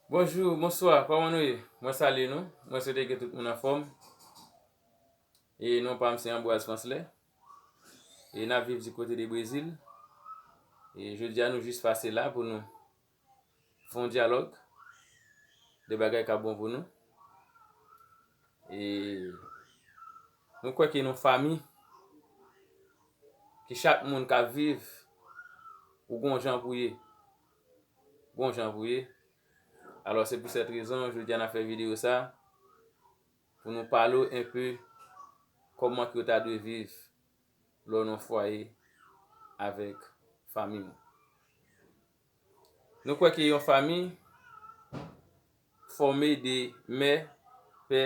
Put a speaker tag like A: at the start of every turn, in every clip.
A: Bonjou, bonswa, kòman nou ye? Mwen salye nou, mwen swete ke tout moun anfòm E non pa m se Anbwaz Panslè E n ap viv di kote de Brezil E jodi a nou jis pase la pou nou fè yon dyalòg De bagay k ap bon pou nou E nou kwè ke nou fanmi Ke chak moun k ap viv Ou gen yon jan pou w ye Bon jan vre wi. Alò se pou sèt rezon jodi a n ap fè videyo sa pou nou pale w enpe kòman ke w ta dwe viv lè w nan yon fwaye avèk fanmi w. Nou kwè ke yon fanmi. fòme de mè, pè,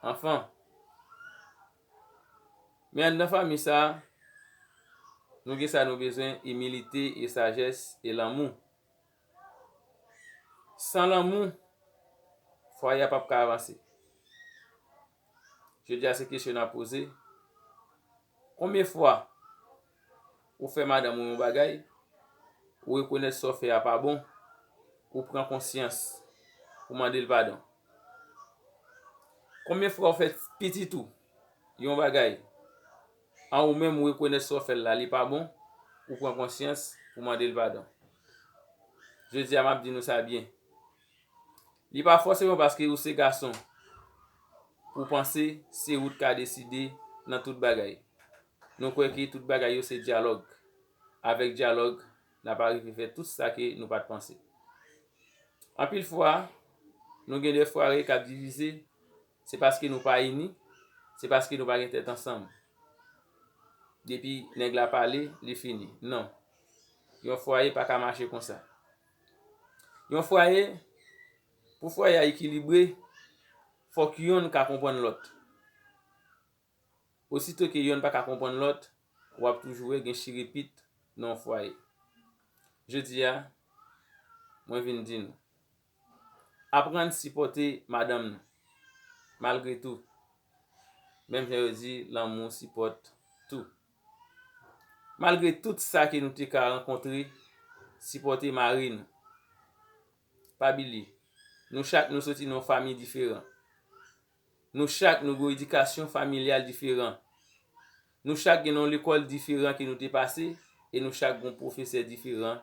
A: anfan. Men anndan fanmi sa, nou gen sa nou bezwen, imilite e sajès e lanmou. San lanmou, fwaye a p ap ka avanse. Jodi a se kesyon n ap poze, konbyen fwa. Ou fè madanm ou yon bagay, ou rekonèt sa w fè a pa bon, ou pran konsyans, ou mande l padon. Konbyen fwa ou fè pitit ou yon bagay, an ou menm ou rekonèt sa w fè l la li pa bon, ou pran konsyans, ou mande l padon. Jodi a m ap di nou sa byen. Li pa fòseman paske ou se gason pou w panse se ou t ka deside nan tout bagay. Nou kwè ke tout bagay yo se dyalòg. Avèk dyalòg n ap arive fè tout sa ke nou pa t panse. Anpil fwa, nou gen de frare k ap divize, se paske nou pa ini, se paske nou pa gen tèt ansanm. Depi nèg la pale, li fini. Non. Yon fwaye pa ka mache konsa. Yon fwaye, pou fwaye a ekilibre, fòk yonn ka konprann lòt. Osito ke yonn pa ka konprann lòt, w ap toujou wè gen chire pit nan yon fwaye. Jodi a, mwen vin di nou, aprann sipòte madanm nou, malgre tou. Menm jan yo di lanmou sipòte tou. Malgre tout sa ke nou te ka rankontre, sipòte mari nou. Pa bilye, nou chak nou soti nan yon famiy diferan. Nou chak nou gen yon edikasyon familyal diferan. Nou chak gen yon lekòl diferan ke nou te pase e nou chak gen yon pwofesè diferan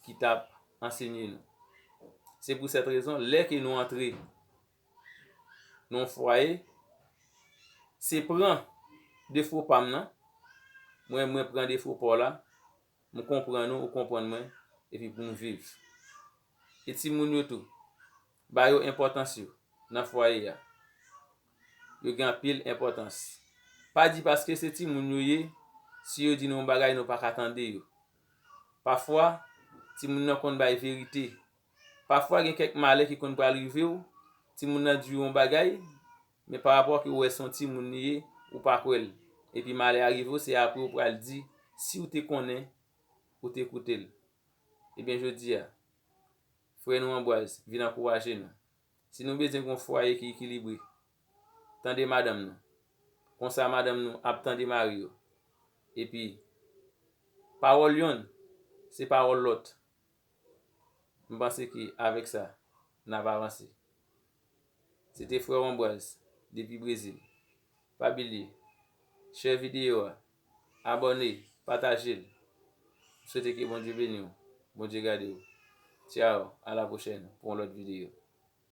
A: ki t ap ansenye nou. Se pou sèt rezon, lè ke nou antre nan fwaye se pran defo pam nan mwen mwen pran defo paw la m konprann ou ou konprann mwen epi pou nou viv e timoun yo tou ba yo enpòtans yo nan fwaye ya yo gen anpil enpòtans pa di paske se timoun yo ye si yo di nou yon bagay nou paka tande yo pafwa timoun nan konn bay verite. Pafwa gen kèk malè ki konn pral rive w, timoun nan di w yon bagay, men pa rapò ke w wè se yon timoun li ye, ou pa kwè l. Epi malè a rive w, se apre ou pral di, si w te konnen, ou te koute l. Ebyen jodi a, frè nou Ambroise vin ankouraje nou. Si nou bezwen gen yon fwaye ki ekilibre, tande madanm nou. Konsa madanm nou ap tande mari yo. Epi, pawòl yonn, se pawòl lòt. M panse ke avèk sa, n ap avanse. Se te frè w Anbwaz depi Brezil. Pa bilye share video a, abòne, pataje l. M swete ke Bondye beni w, Bondye gade w. Ciao, a la pwochèn pou yon lòt video.